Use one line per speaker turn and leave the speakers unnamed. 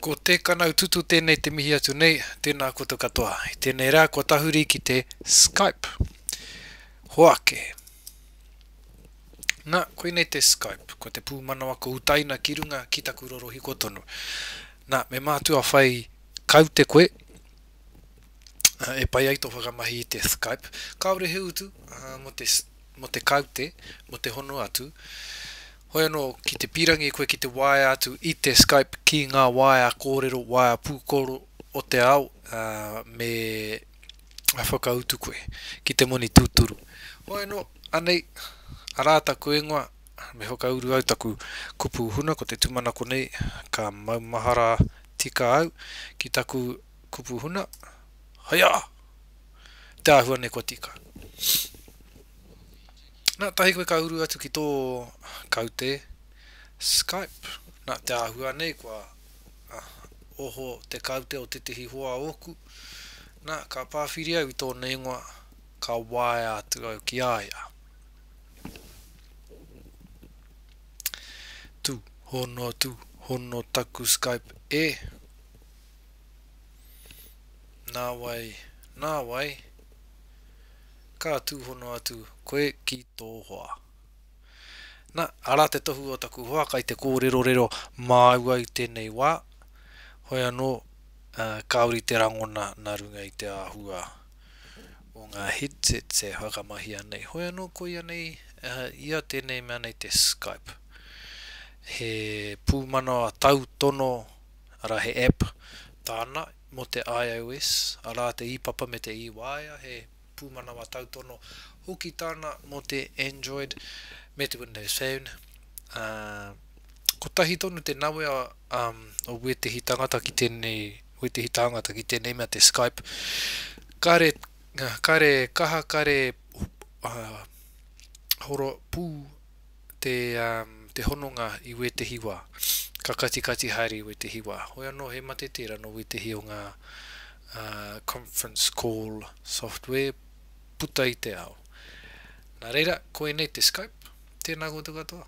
Ko Te Kanaututu tēnei te mihi atu nei, tēnā koutou katoa. I tēnei rā kua tahuri ki te Skype. Hoake. Na, koinei te Skype, ko te pūmanawa kua utaina ki runga ki taku rorohiko tonu. Na, me mātua whai kaute koe, e pai ai tō whakamahi i te Skype. Kāore he utu, ā, mō te, mō te kaute, mō te hono atu, Hoi anō, ki te pīrangi koe ki te waea atu i te Skype ki ngā waea kōrero, waea pūkoro o te ao, ā, me whakautu koe ki te moni tūturu. Hoi anō, anei, arā taku ingoa, me whakauru au taku kupu huna ko te tūmanako nei, ka maumahara tika au ki taku kupu huna, Haiā! Te āhua nei kua tika. Nā, tahi koe ka uru atu ki tō kaute Skype, nā te āhua nei kua oho te kaute o tētehi hoa ōku, nā, ka pāwhiri au i tōna ingoa, ka waea atu au ki a ia. Tūhono, tūhono taku Skype e. Nāwai, nāwai. ka tūhono atu koe ki tō hoa. Na, ara te tohu o taku hoa kai te kōrerorero māua i tēnei wā, hoi anō, kāore i te rangona nā runga i te āhua o ngā headsets e whakamahia nei. Hoi anō, koia nei, ia tēnei mea nei te Skype. He pūmanawa tautono, ara, he app tāna Mō te IOS, arā te ī-papa me te ī-waea, he pūmanawa tautono hoki tāna mō te Android me te Windows Phone, ā, kotahi tonu te nawe o wētehi tangata ki tēnei, wētehi tāngata ki tēnei mea te Skype, kare, kare kaha, kare horo pū te, um, te hononga i wētehi wā, ka katikati haere i wētehi wā. Hoi anō he mate tērā nō wētehi o ngā uh, conference call software puta i te ao. Nā reira, ko ēnei te Skype, tēnā koutou katoa.